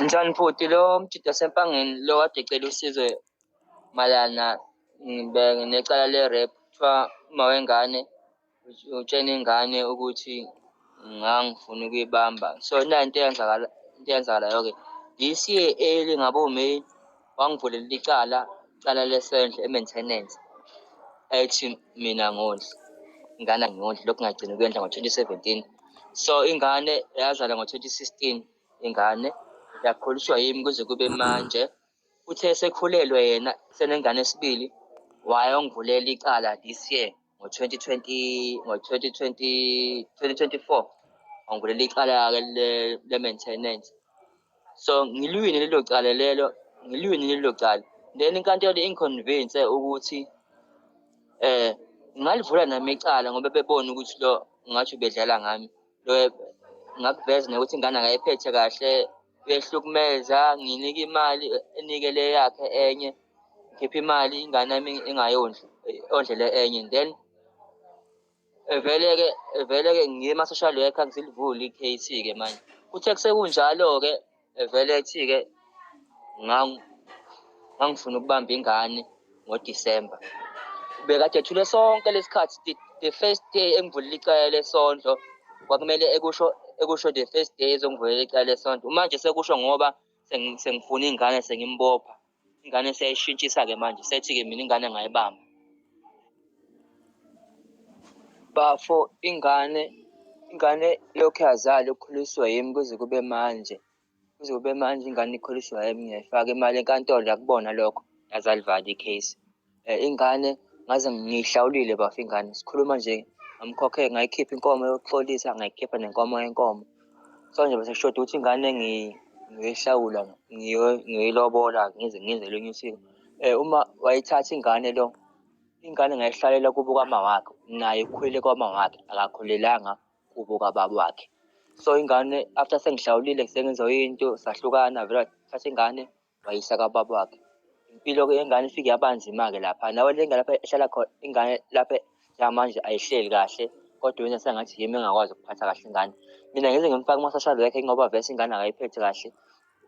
Njani bhuti lo mjida sempangeni lo kade ecela usizo malana ngibe necala le-rap kuthiwa uma wengane utshena ingane ukuthi ngangifuna ukuyibamba so nayo into eyenzakala into eyenzakalayo-ke this year early ngabo-may wangivulela icala icala lesendlo e-maintenance ethi mina ngondli ingane angiyondli lokhu ngagcina ukuyondla ngo-2017 so ingane yazala ngo-2016 ingane yakhuliswa yimi kuze kube manje uthe sekhulelwe yena senengane esibili wayongivulela icala this year ngo-2020 ngo-2020 2024 angivulele icala-ke le- le-maintenance so ngiliwine lelo cala lelo ngiliwine lelo cala then inkantolo ingiconvince ukuthi eh ngingalivula nami icala ngoba bebona ukuthi lo ngathi ubedlala ngami ngakuveza nokuthi ingane akayiphethe kahle uyehlukumeza nginike imali enike le yakhe enye ngikhiphe imali ingane yami ingayondli ondlele enye then vele-ke vele-ke ngima-social worker ngisilivule i-case-ke manje kuthe kusekunjalo-ke evele ethi-ke ngangifuna ukubamba ingane ngodisemba bekade ethule sonke lesikhathi the first day engivulela icala lesondlo kwakumele ekusho ekusho the first day ezongivulela icala lesondlo manje sekusho ngoba sengifuna ingane sengimbopha ingane seyayishintshisa-ke manje sethi-ke mina ingane ngayibamba bafo ingane ingane lokhu yazali ukhuliswe yimi kuze kube manje kuze kube manje ingane ikhuliswa yimi ngiyayifaka imali enkantolo yakubona lokho yazalivali i-case Eh, ingane ngaze ngiyihlawulile bafa ingane sikhuluma nje ngamkhokhe ngayikhipha inkomo yokuxolisa ngayikhipha nenkomo yenkomo so nje bese kushoda ukuthi ingane ngiyoyihlawula ngiyoyilobola ngize ngize elinye usiko um uma wayithatha ingane lo ingane ngayihlalela kubo kwama wakhe naye ukhulele kwama wakhe akakhulelanga kubo kwababa wakhe so ingane after sengihlawulile sengenza into sahlukana vele wathatha ingane wayisa kababa wakhe impilo ke yengane ifike yabanzima-ke lapha nawe le ngane lapha ehlala khona ingane lapha yamanje ayihleli kahle kodwa wena sengathi yimi engakwazi ukuphatha kahle ingane mina ngize ngimfake kuma-social worker ngoba vese ingane akayiphethe kahle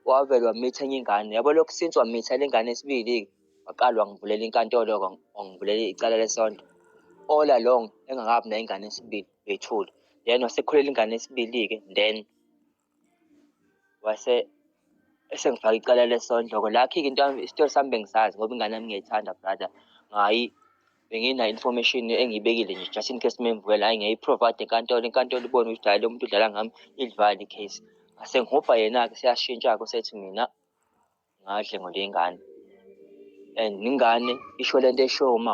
wavele wamitha enye ingane yabo lokhu since wamitha le ngane esibili-ke waqala wangivulela inkantolo-ke wangivulela icala lesonto all along engakabi nayingane esibili bethule then wasekhulela ingane esibili-ke then wase esengifaka icala lesondloko lakhi-ke into isitori sami bengisazi ngoba ingane yami ngiyayithanda brother ngayi benginayo information engiyibekile nje just in case memvukela hayi ngiyayiprovide enkantolo inkantolo ibone ukuthi hayi lo muntu udlala ngami idlivale icase ngase ngihubha yena-ke siyashintsha-ke usethi mina ngadle ngoleyingane and ingane isho lento eshoyo uma